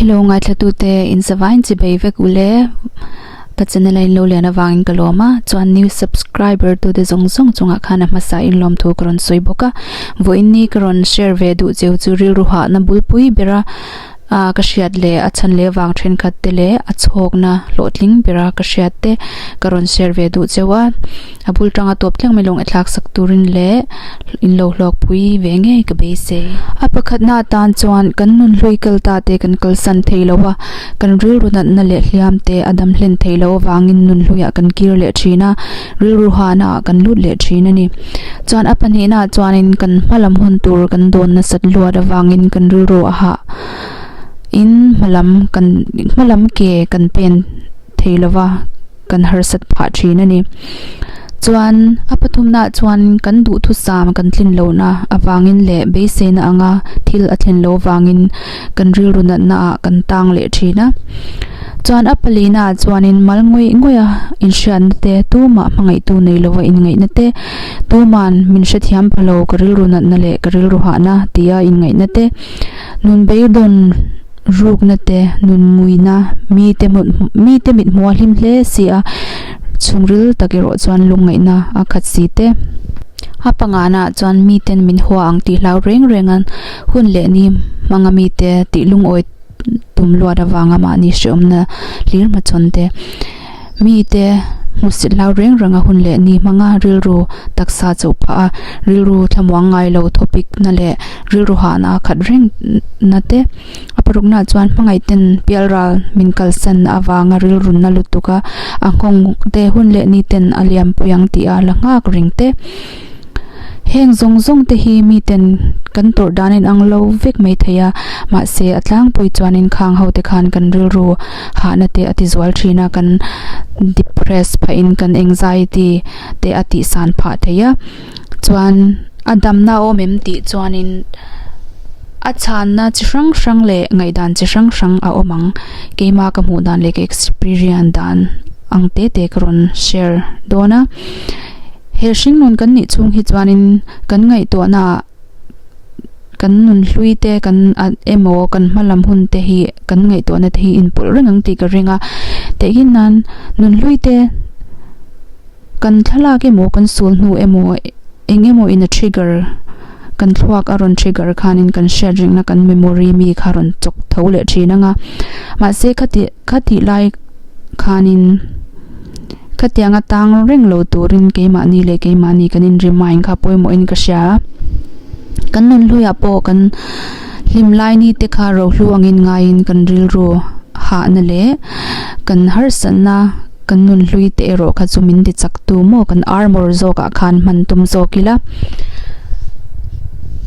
Hello ngaihthlatute, in savain chi bei vek u le. Ka channel a in lo lian avangin ka lawm a, chuan new subscriber tu te zawng zawng chunga khan a hmasa in lawm thu ka rawn sawi bawk a. Vawiinni ka rawn share ve duh cheu chu rilru hahna bulpui bera ah ka hriat leh a chhan leh avang thenkhat te leh a chhawkna hlawhtling bera ka hriat te ka rawn share ve duh cheu a. A bul tang a tawp thleng mai lawng thlak sak turin leh in lo hluak pui ve ngei ka beisei. A pakhatna atan chuan kan nun hlui kal ta te kan kal san thei lo a, kan rilru natna leh hliam te a dam hlen thei loh avangin nun hlui ah kan kir leh thin a, rilru hana ah kan lut leh thin a ni. Chuan a pahnihna ah chuanin kan hma lam hun tur kan dawn nasat luat avangin kan rilru a hah in hma lam kan hma lam ke kan pen thei lova. kan harsat phah thin a ni. Chuan a pathumnaah chuan kan duhthusam kan tlin lohna avangin leh beiseina anga thil a thlin lo vangin kan rilru natnaah kan tang leh thin a. Chuan a palinaah chuanin mal ngawih ngawih a inhriatna te, tumah hmangaihtu nei lova inngaihna te, tuma'n min hrethiam pha lo ka rilru natna leh ka rilru hahna tia inngaihna te, nun beidawn, Rukna te, nunmuina, mite hmun mite mithmuh a hlim hle si a, chhungril tak erawh chuan lungngaihna a khat si te. A pangngahnah chuan miten min hua ang tih hlau reng reng a, hun leh ni hmanga mite tih lungawi tum luat avanga mahni hreawmna hlirhmachhawn te. Mite hmusit hlau reng reng a hun leh ni hmanga rilru taksa chauh phah a, rilru thlamuang ngai lo thawpik na leh rilru hah na khat reng na te. A paruk na chuan hmangaih ten pial ral min kal san na avanga rilru na lutuk a, a nghawng te hun leh ni ten a liam pui ang tih a la nghak reng te. Heng zawng zawng te hi mi ten kan tawrh dan in ang lo vek mai thei a, mahse a tlangpui chuan in khang ho te khan kan rilru hahna te a ti zual thin a, kan depress phah in kan anxiety te a tih san phah thei a, chuan a dam na awm em tih chuan in a chhan na chi hrang hrang leh ngaih dan chi hrang hrang a awm ang, keima ka hmuh dan leh ka experience dan ang te te ka rawn share dawn a. He hringnun kan nih chhung hi chuanin kan ngaihtuahna ah kan nun hlui te kan emaw kan hma lam hun te hi kan ngaihtuahna te hi inpawlh reng ang tih ka ring a. Tehgin nan nun hlui te kan thlalak emaw kan sul hnu emaw eng emaw in a trigger kan thluak a rawn trigger khanin kan hriat reng na kan memory mi kha rawn chawk tho leh thin anga. Mahse khatih khatih lai. khanin ka tiang atang reng lo turin keimahni leh keimahni kan in remind kha pawimawhin ka hria a, kan nun hluiah pawh kan hlim laini te kha rohlu angin ngaiin kan rilru hahna leh kan harsatna kan nun hlui te erawh kha chu min tichaktu maw kan armor zawkah khan hman tum zawk ila.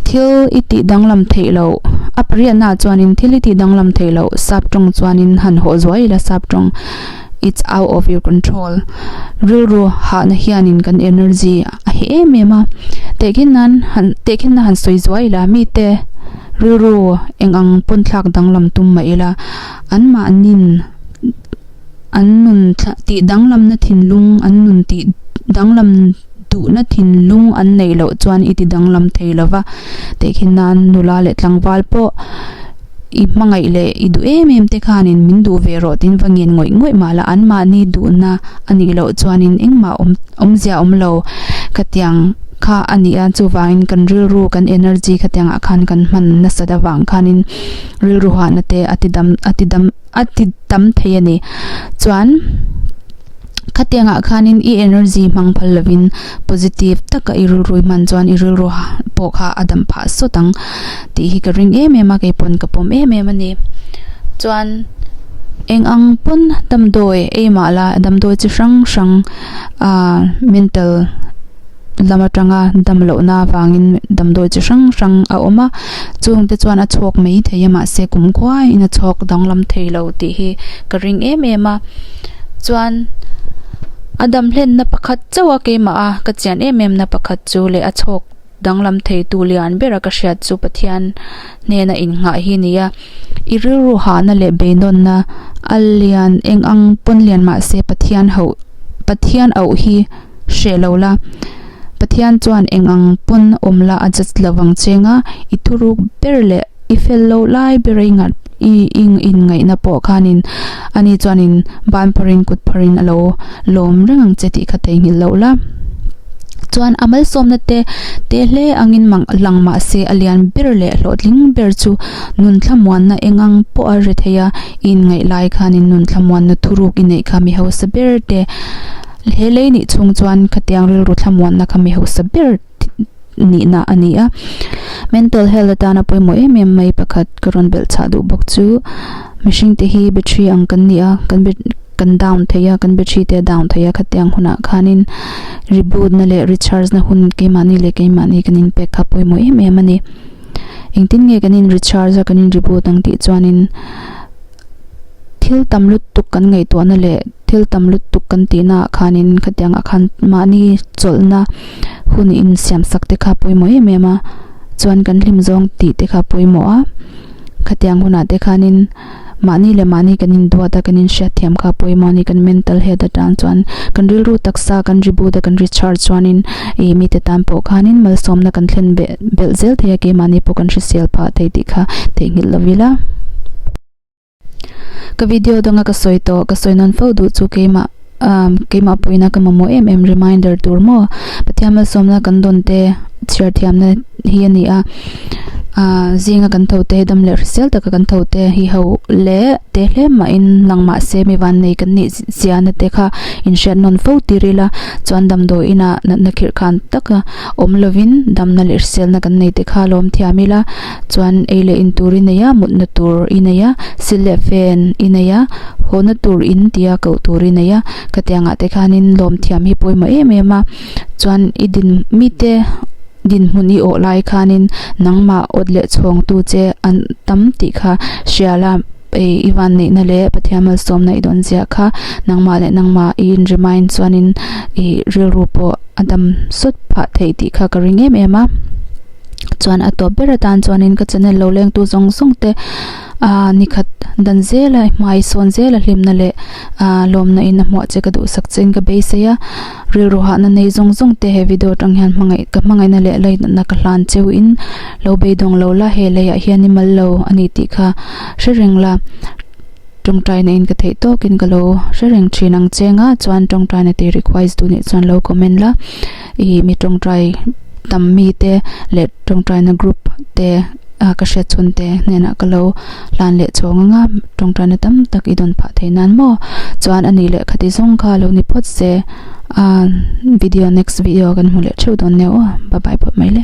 Thil i tih danglam theih loh. A pariatnaah chuanin thil i tih danglam theih loh. Sap tawng chuanin han haw zuai ila sap tawng. It's out of your control. Rilru hahna hianin kan energy a heh em em a. Tehkhin nan han, tehkhin nan han sawi zuai ila. Mite rilru eng ang pawnthlak danglam tum mah ila anmahnin. an nun thla tih danglamna thinlung an nun tih danglam duhna thinlung an neih loh chuan i ti danglam thei lo va, tehkhin nan nula leh tlangval pawh i hmangaih leh i duh em em te khanin min duh ve rawh tiin va ngen ngawih ngawih mah la, anmahni duhna a nih loh chuanin engmah awm awmzia awm lo khatiang kha a ni a, chuvangin kan rilru kan energy khatiangah khan kan hman nasat avang khanin rilru hahna te a tidam a tidam. a ti tam thei a ni. Chuan khatiangah khanin i energy hmang phal lovin positive taka i rilru hman chuan i rilru pawh kha a dam phah sawt ang tih hi ka ring em em a, keipawn ka pawm em em a ni. Chuan eng ang pawn damdawi ei mah la damdawi chi hrang hrang mental. dam atanga dam lohna avangin damdawi chi hrang hrang a awm a chung te chuan a chhuak mai thei a mahse kum khuai in a chhuak danglam thei lo tih hi ka ring em em a chuan a dam hlen na pakhat chauha keimah a ka chian em em na pakhat chu leh a chhuak danglam thei tu lian ber a ka hriat chu Pathian hnena in nghah hi a ni a i rilru hahna leh beidawn na a lian eng ang pawn lian mahse Pathian hauh Pathian auh hi hreh lo la. Pathian chuan eng ang pawn awm la a judge lo vang cheng a, i thuruk ber leh i fel loh lai ber a i nghat i i inngaihna pawh khanin ani chuanin ban pharin kut pharin a lo lawm reng ang che tih kha theihnghilh loh la. Chuan a malsawmna te te hle angin mang lang mahse a lian ber leh hlawhtling ber chu nun thlamuanna eng ang pawh a hre thei a, i inngaih lai khanin nun thlamuanna thuruk i neih kha mi hausa ber te He lei nih chung chuan khatiang rilru thlamuanna kha mi hausa ber nihna a ni a. Mental health atana pawimawh em em mai pakhat ka rawn belh chah duh bawk chu, mihring te hi battery ang kan ni a, kan battery kan down theih a, kan battery te a down theih a, khatiang hunah khanin reboot na leh recharge na hun keimahni leh keimahni kan in pek kha pawimawh em em a ni. Engtin nge kan in recharge a, kan in reboot ang tih chuanin thil tam lutuk kan ngaihtuahna leh Thil tam lutuk kan tihna ah khan in khatiang ah khan mahni chawlhna hun in siamsak te kha pawimawh em em a, chuan kan hlim zawng tih te kha pawimawh a, khatiang hun ah te khan in mahni leh mahni kan in duat a, kan in hriat thiam kha pawimawh a ni, kan mental health atang chuan kan rilru taksa kan ri but a, kan ri char chuan in ih mi te tan pawh khan in malsawmna kan thlen beh belh zel thei a, keimah ni pawh kan hrisel phah thei tih kha theihnghilh lo ila. Ka video danga ka sawi tawh, ka sawi nawn fo duh chu keimah keimah pawhina ka mamawh em em reminder tur maw? Pathian malsawmna kan dawn te chhiar thiamna hi a ni a, aah zinga kan tho te dam leh hrisel taka kan tho te hi ho leh te hle mahin lang mah se mi vannei kan nih zia na te kha inhriat nawn fo tir ila chuan damdawi inah natna khirh khan taka awm lovin damna leh hriselna kan nei te kha lawm thiam ila. chuan ei leh in tur i nei a mutna tur i nei a sil leh fan i nei a hona tur in tia koh tur i nei a khatiang ah te khanin lawmthiam hi pawimawh em em a chuan i din mite dinhmun i awh lai khanin nangmah awt leh chhawng tu che an tam tih kha hria la. Ei i van neihna leh Pathian malsawmna i dawn ziah kha nangmah leh nangmah i inremain chuanin i rilru pawh a dam sawt phah theih tih kha ka ring em em a. Chuan a tawp ber atan chuanin ka channel lo lengtu zawng zawng te aa nikhat dan zela i hmai sawn zela hlimna leh aa lawmna in a hmuah che ka duhsak che in ka beisei a. Rilru hahna nei zawng zawng te he video atang hian hmangaih ka hmangaihna leh lei natna ka hlan cheu in lo beidawng lo la he leiah hian i mal lo a nih tih kha hre reng la tawngtaina in ka theih tawk in ka lo hre reng thin ang che nga chuan tawngtaina tih requise duh nih chuan lo comment la i mi tawngtai tam mi te leh tawngtaina group te a ka hriat chhun te hnenah ka lo hlan leh chho ngang a, tawngtana tam tak i dawn phah thei nan maw? Chuan a nih leh kha tih zawng kha lo ni phawt se a, video next video ah kan hmu leh theuh dawn nia aw, bye bye phawt mai le.